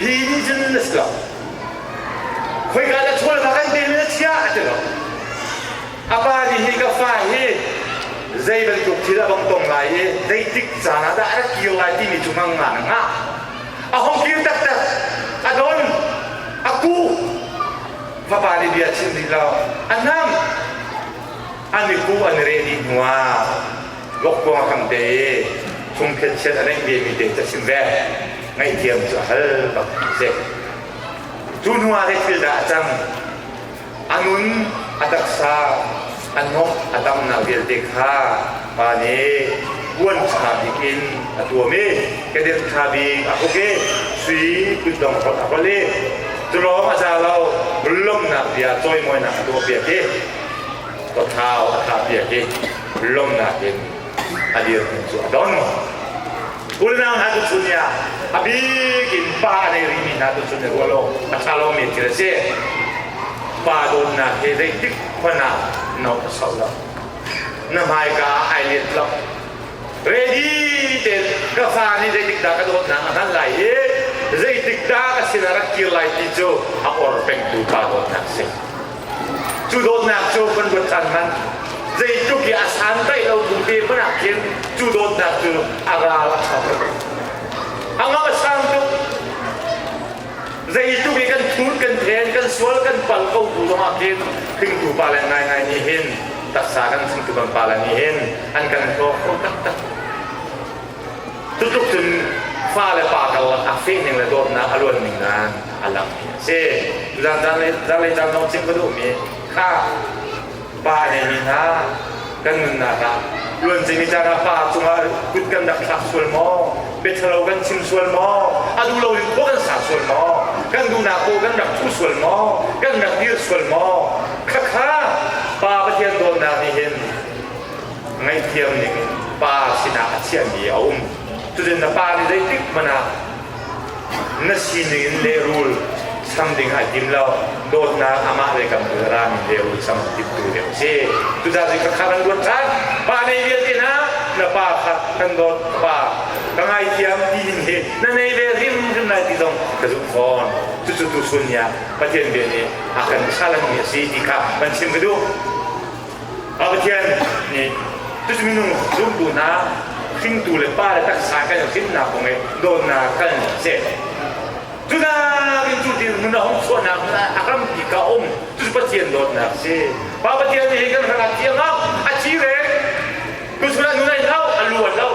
Hi nih cun na si lo. Khoika na ṭhawl kha kan pek na chia a ti lo. A pa nih hi ka fa hi zei bantuk thil a bang tong lai i zeitik caan ah dah a rak kio lai timi cu ngangah na ngah. A hong kir taktak. A don. A ku. Vapa nih bia a chim rih lo. A nam. An i ku an i reh dih hnuah Vokkuang a kang te i fungphet chiat a neih vemi te ca chim ve ngaihthiam cu a hal bak a si. Cu hnuah hei thil dah a cang. A nun a taksa a hnawh a tam na vialte kha pa nih uan ṭha bik in a tuam i kedenh ṭha bik a huk i sui kutdong holh a holh i culawng a za lo lawmhnak bia cawimawinak a tuah piak i ka thau a tha bia hi lomnak in a dir cu a don kulnang ha tu chun ya a bik in pa nei ri mi hna tu chun ya rual lo a tha lo mi thil a si pa donnak hi zeitik khona no a sau lo na hmai ka ai liet lo ready te ka fa nih zeitik da ka dawt na a hman lai i zeitik da ka sin a rak kir lai ti cu a or pengtu pa dawt nak si Cu dawtnak cu kan ruat tan man. Zeitluk i a sandaih lo kum te hmanh ah khin cu dawtnak cu a ral a thang. A ngam a sang tuk. Zeitluk i kan thut, kan then, kan sual, kan pal ko bu zong ah khin hringtu pale ngaingai nih hin taksa kan chimtu kan pale nih hin an kan hlawk kho taktak. Cutluk cun fale pa karlak ah fehning le dawtnak a luan ning nan a lang hi a si. Zanlei zanlei caan zong chim ka duhmi kha pa hei mi hna kan nunnak ah luan cemi caan ah fa cungah kut kan rak thlak sual maw petrolo kan chim sual maw a duh lo in kaw kan sa sual maw kan duhnak kaw kan rak thu sual maw kan rak dir sual maw khakha pa pathian dawtnak nih hin ngaihthiam ning pa sinah a chiahmi a um. Cutin na pa nih zeitik hmanh ah na sining in lehrul sam ding ai tim lo dawtnak amah le kan bul ra min lehrul sam tim tu deuh si tudah zai ka kharan ruat kan pa nei vial ti na na pa khat kan dawt pa ka ngai thiam ti hin hi na nei ve rim rim lai ti zong ka zum fawn tu cu tu sun ya pathian bia nih a kan salan mi a si ti kha ban chim ka duh Ah Pathian nih tucu minung zumtu hna hringtu le pa le taksa kan i hrinnak kong i dawtnak kan si. Judah in cu tin hmun a hong chuahnak a rampi ka um tucu Pathian dawtnak si. Pa Pathian nih kan hrangak tiang ah a ci rek tusur an nunai lo a lu an lo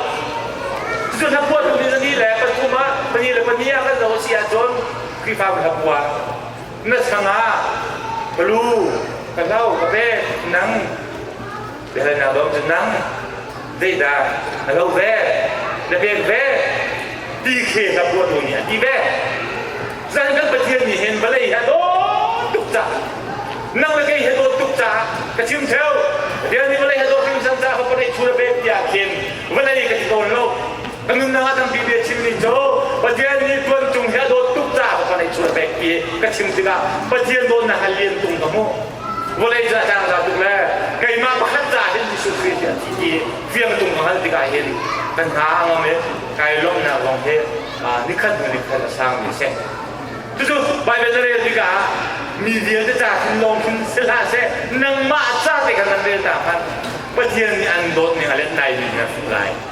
cucu hlapua tu ni ni le pathum ah pani le pani ah kan lo a si ahcun Khrihfabu hlapua na sang ah ka lu ka hno ka pet nang biahalnak dawm cu nang zeidah na lo ve na pek ve ti khi hla ruatu nih a ti ve zan kan pathian nih hin vawlei hi a dawt tuk caah nang le kei hi a dawt tuk caah ka chim theo pathian nih vawlei hi a dawt hrimsam caah ka pareih thur a pek tiah khin vawlei ka ti tawn lo Kan nunnak tampi ve chim ning cu Pathian nih tuan tung hi a dawt tuk caah ka neih chuan pek i ka chim tikah Pathian dawtnak ha lian tung ka hmuh. Vawlei ca tang ca tuk le keimah pakhat ca hin Jesuh Khrih hi a thi i fiang tung ka hal tikah hin kan hna a ngam i kai lawmhnak lawng hi nikhat hnu nikhat a sangmi a si. Cucu Baibal na rel tikah ah mi vialte ca hin lawng hin si hlah seh nangmah ca te kan nan rel ta hmanh Pathian nih an dawt ning a let lai mi na hmuh lai.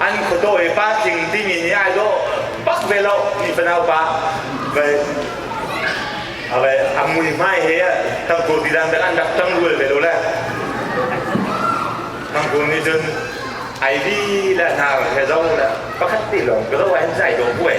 an khuadaw i pa tling ding in ai daw pak ve lo ti fanau pa vai ave amui hmai he tangkur ti dan an rak tang rual ve lo le tangkur ni cun ai bi la na he zo la pakhat ti lawng ka lo an zai do buai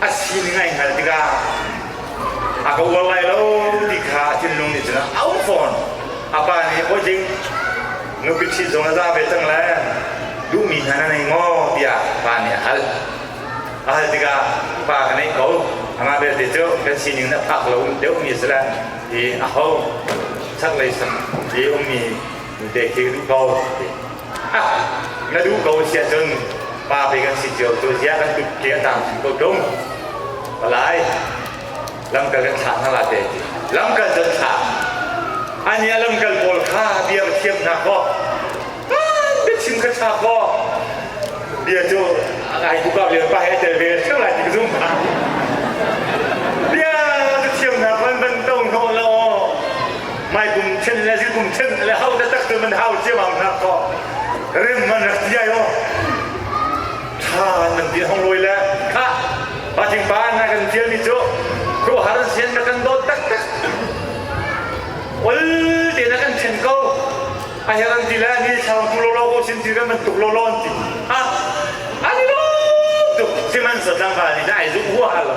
a sining a in hngalh tikah a ka uar lai lo ti kha a thinlung nih cun a au fawn a pa nih hawi ding nupi ṭhit zong na za ve cang le duhmi hna na nei maw tiah pa nih a hal a hal tikah pa ka neih ko amah belte cu kan sining na phak lo deuhmi a si le ti a ho chaklei sam i ummi nute khi rih ko ti Ka duh ko siah cun pa pe kan si cio tu zia kan tuk ke a tam chin ko ṭung. Palai lamkal kan thlah hna la te ti. Lamkal zan thlah. Ani a lamkal pawl kha bia va thiam hna ko. Biachim ka tha ko. Bia cu ai bu ka len pa he tel ve theu lai ti ka zum pa. Bia va thiam hna ban ban tong hnawh lo. mai kum chen le si kum chen le hau le tak man hau ciamam na ko rim man tia yo tha nan bia hong loi le kha ba jing pa na kan tial mi chu kru har sian na kan dot tak tak ol te na kan chen ko a heran ti le ni thang ku lo lo ko sin ti re man tuk lo lo ti ha ani lo tuk siman sa tlang ka ni dai zu hu ha lo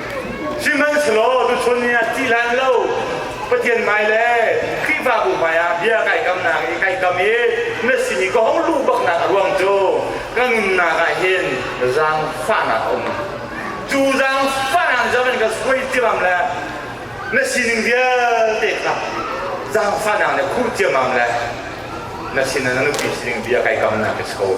Sihmanhsehlaw tuchun ni ah ttih hlan lo Pathian hmai le Khrihfabu hmai ah bia kai kamnak i kai kam i na sin i ka hong luh baknak a ruang cu ka nunnak ah hin zaangfahnak a um. Cu zaangfahnak zaman ka suai ciamam le na sining vialte kha zaangfahnak na khur ciamam le na sin ah na nupi sining bia kai kamnak ka si ko.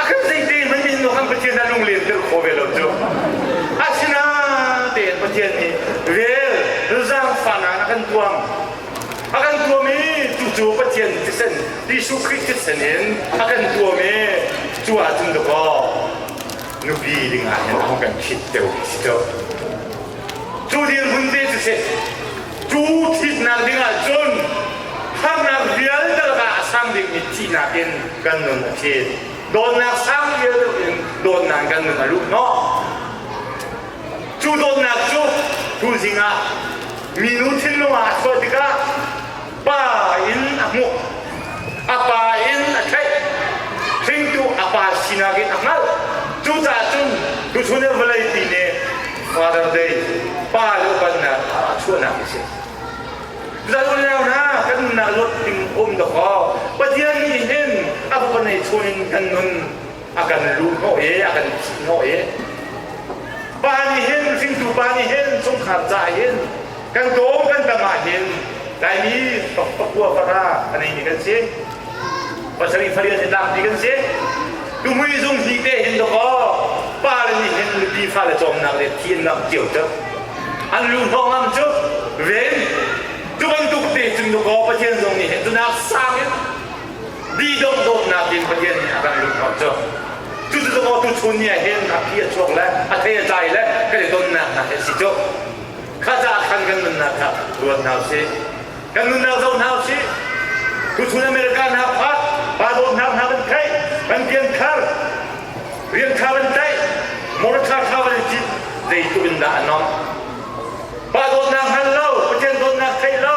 a kan zeite hmanh in nu han Pathian a lunglen tel kho ve lo cu asina tein Pathian nih vel zaangfahnak a kan tuam a kan tuam i tucu Pathian thisen Jesuh Khrih thisen in a kan tuam i cu ah cun dakaw nupi dingah hin a hung kan khit deuh si deuh cu dirhmun te cu si cu thitnak ding ah cun harnak vialte laka a sang dingmi thihnak in kan nun a thit dawtnak sang vial deuh in dawtnak kan nun a luh hnawh cu dawtnak cu tuzing ah minu thinlung ah a chuah tikah pa in a hmuh a pa in a theih hringtu a pa sinak in a hngalh cucaah cun tuchun in vawlei pi nih father day pa le upannak a chuahnak a si zan unau hna kan nunnak luat ding um dawk aw pathian nih hin a hupa nei chawn in kan nun a kan lu hnawh i a kan thih hnawh i pa nih hin hringtu pa nih hin chungkhar ca hin kan dawm kan dam ah hin laimi pakua para a neimi kan si pasarih faria in laak mi kan si tumui zung hni te hin dakaw pa le nih hin nupi fa le cawmnak le thiannak cio cu an lu hnawh ngam cu ven tu bantuk te cun dakaw pathian zong nih hin tunak sang in mi dohdawtnak in Pathian nih a kan luhhnawh cu cucu maw tu chun ni ah hin ranghi a chuak le a the a tlai le kan i tonnak hna hi a si cu kha caah khan kan nunnak kha ruat hna usih kan nunnak zoh hna usih tuchun America hna kha pa dawt hna hna kan theih kan pian khar rian kha kan tlaih moral kha kha kan i zeitluk in dah a nawm pa dawtnak hngal lo Pathian dawtnak theih lo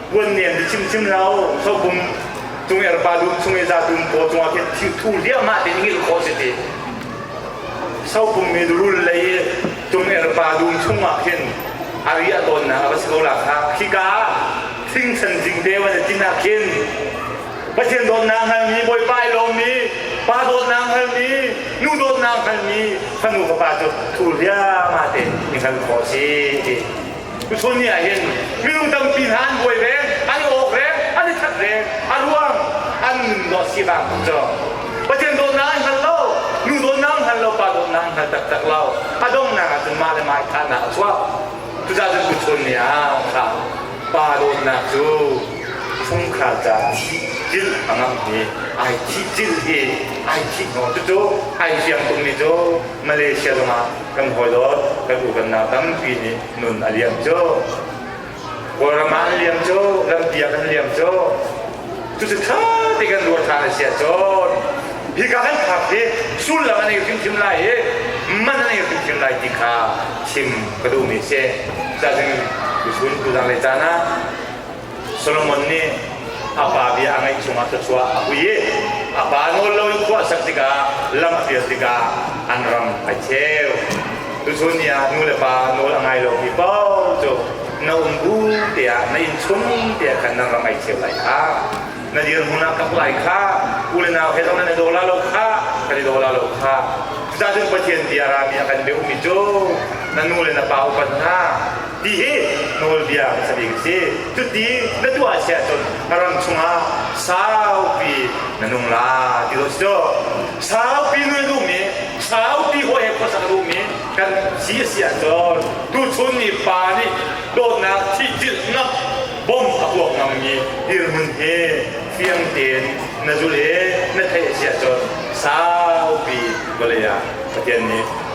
puan nian bi chim chim lo sopum cung er pa lu chung e za tum ko chung a khe thu liam ma te ngil ko se ti sopum mi rul lei cung er pa lu chung ah khin ari a don na ba se ko la kha khika sing san jing te wan tin a khin pathian dot na hal mi boi pai lo mi pa dot na hal mi nu dot na hal mi fanu pa pa chu thu lia ma te ni hal ko si ti Mithun nih ahhin minung tampi hna an buai ve, an awk ve, an i that ve, a ruang an dawt si bang cu Pathian dawtnak an hngal lo, nu dawtnak an hngal lo, pa dawtnak an hngal taktak lo, a donghnak ah cun mah le mah thahnak a chuak. Cucaah cun tuchun ni ah kha pa dawtnak cu fungkhral ca thihjil a ngam i ai thihjil hi ai thih hnawh cucu ai fiang tummi cu Malaysia zongah kan hawi dawt kan uvanau tampi nih nun a liam cu. Kawlram ah an liam cu, lampiak an liam cu. Cu cu tha te kan ruah than a sia cun, hika kan phak hi sullam an ei hrimhrim lai i, man an ei hrimhrim lai ti kha chim ka duhmi a si. Cazin tuchun tuzang le caan ah Solomon nih a pa bia a ngaih chungah thluachuah a hui i a pa nawl lo in khuahsak tikah lam a fir tikah an ram a cheu. Tuchun ni ah nu le pa nawl a ngai lo mi paoh cu na um bu tiah na inn chung tiah khan nan ram ai cheu lai kha na dirhmun ah ka hmuh ai kha u le nau he zong nan i daw la lo kha kan i daw la lo kha cucahcun Pathian bia rami a kan beuhmi cu na nu le na pa upat hna ti hi nawlbia sabik a si cuti na tuah sia cun na ram chungah saupi na nung la ti lo si saupi nu duh mi saupi hua he khuasak duh mi kan si a si ah cun tu chun ni pa nih dawtnak thihchilh ngam bom a tuak ngammi dirhmun he fiang tein na zul i na theih a si ah cun saupi vawlei ah Pathian nih